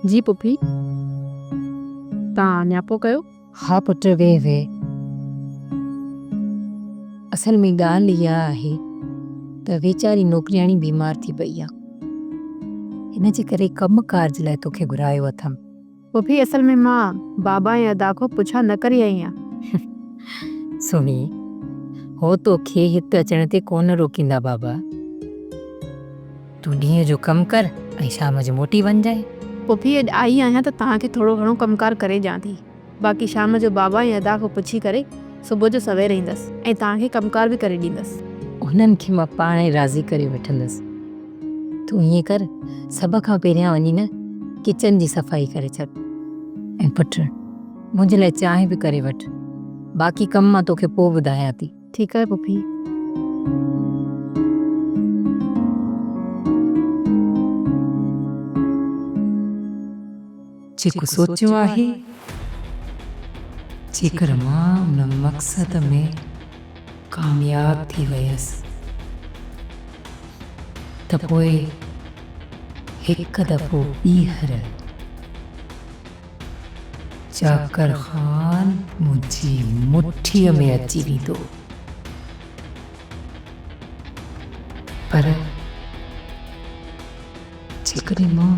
جي پڦي، توهان نياپو ڪيو؟ ها پٽ ويهه ويهه. اصل ۾ ڳالهه اها آهي ته ويچاري نوڪرياڻي بيمار ٿي پئي آهي. ان جي ڪري ڪم ڪارج لاء توکي گهرايو اٿم. پڦي اصل ۾ مان بابا ۽ ادا کان پڇا نه ڪري آئي آهيان. سهڻي، هو توکي هت اچڻ تي ڪونه روڪيندا بابا. تون ڏينهن جو ڪم ڪر ۽ شام جو موٽي وڃجانء. پڦي اڄ آئي آهيان ته توهان کي ٿورو گهڻو ڪم ڪار ڪري ڏيان ٿي. باقي شام جو بابا ۽ ادا کان پڇي ڪري صبح جو سوير ايندس ۽ توهان کي ڪم ڪار به ڪري ڏيندس. انهن کي مان پاڻهي راضي ڪري وٺندس. تون ائين ڪر سڀ کان پهريان وڃي نه ڪچن جي صفائي ڪري اچ ۽ پٽ منهنجي لاء چانهه به ڪري وٺ باقي ڪم مان توکي پوء ٻڌايان ٿي. ٺيڪ آهي پڦي. جيڪو سوچيو آهي، جيڪر مان ان مقصد ۾ ڪامياب ٿي ويس ته پوء هڪ دفعو ٻيهر چاڪر خان منهنجي مٺيء ۾ اچي ويندو. پر جيڪڏهن مان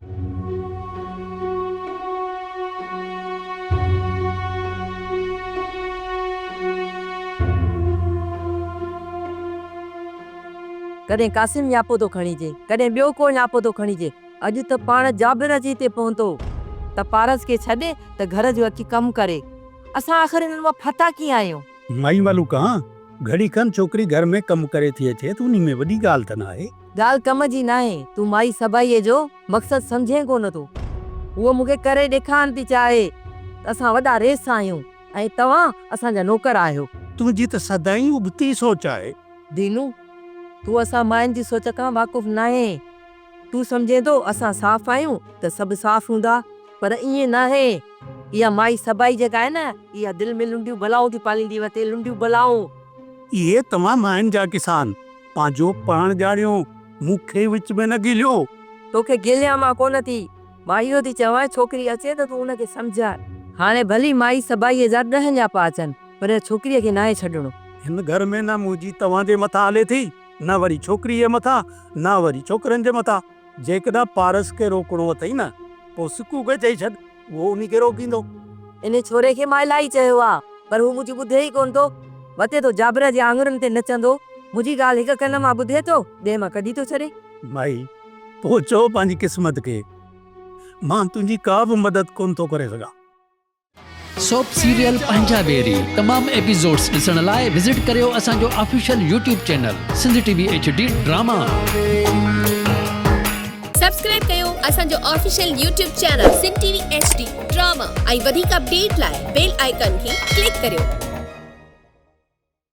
ڪڏهن قاسم نياپو ٿو کڻيجي، ڪڏهن ٻيو ڪو نياپو ٿو کڻيجي. اڄ ته پاڻ جابر اچي هتي پهتو ته پارس کي ڇڏي ته گهر جو اچي ڪم ڪري. اسان آخر انهن مان ڦتا ڪيئن آهيون؟ مائي ملوڪ، ها، گهڙي کن ڇوڪري گهر ۾ ڪم ڪري ٿي اچي ته انهي ۾ وڏي ڳالهه ته ناهي. ڳالهه ڪم جي ناهي، تون مائي سڀائيء جو مقصد سمجهين ڪو نه ٿو. هوء مون کي ڪري ڏيکارڻ ٿي چاهي ته اسان وڏا ريس آهيون ۽ توهان اسان جا نوڪر آهيو. تنهنجي ته سدائين ابتي سوچ آهي. دينو، تون اسان ماين جي سوچ کان واقف ناهين. تون سمجهين ٿو اسان صاف آهيون ته سڀ صاف هوندا، پر ائين ناهي. اها مائي سڀائي جيڪا آهي نه، اها دل ۾ لنڊيون بلائون ٿي پاليندي وتي، لنڊيون بلائون. اهي توهان ماين جا ڪسان، پنهنجو پاڻ ڄاڻيو، مون کي وچ ۾ نه گهليو. توکي گهليان مان ڪونه ٿي. مائي اهو ٿي چوانء ڇوڪري اچي ته تون ان کي سمجهاء. هاڻي ڀلي مائي سڀائيء جا ڏهه نياپا اچن، پر ان ڇوڪريء کي ناهي ڇڏڻو. هن گهر ۾ نه منهنجي توهان جي مٿان هلي ٿي، نه وري ڇوڪريء جي مٿان، نه وري ڇوڪرن جي مٿان. جيڪڏهن پارس کي روڪڻو اٿئي نه، پوء سڪوء کي چئي ڇڏ. اهو انهي کي روڪيندو. انهي ڇوري کي مان الاهي چيو آ، پر هو منهنجي ٻڌي ئي ڪونه ٿو. وتي ٿو جابر جي آڱرين تي نچندو. منهنجي ڳالهه هڪ ڪن مان ٻڌي ٿو، ٻئي مان ڪڍي ٿو ڇڏي. مائي، تون چئو پنهنجي قسمت کي. مان تنهنجي ڪا به مدد ڪونه ٿو ڪري سگهان. سوپ سيريل پنهنجا ويري تمام ايپيسوڊز ڏسڻ لاء وزٽ ڪريو اسان جو official YouTube channel Sindh T V H D drama. Subscribe ڪيو اسان جو official YouTube channel Sindh T V H D drama ۽ وڌيڪ اپڊيٽ لاء بيل آئيڪان کي ڪلڪ ڪريو.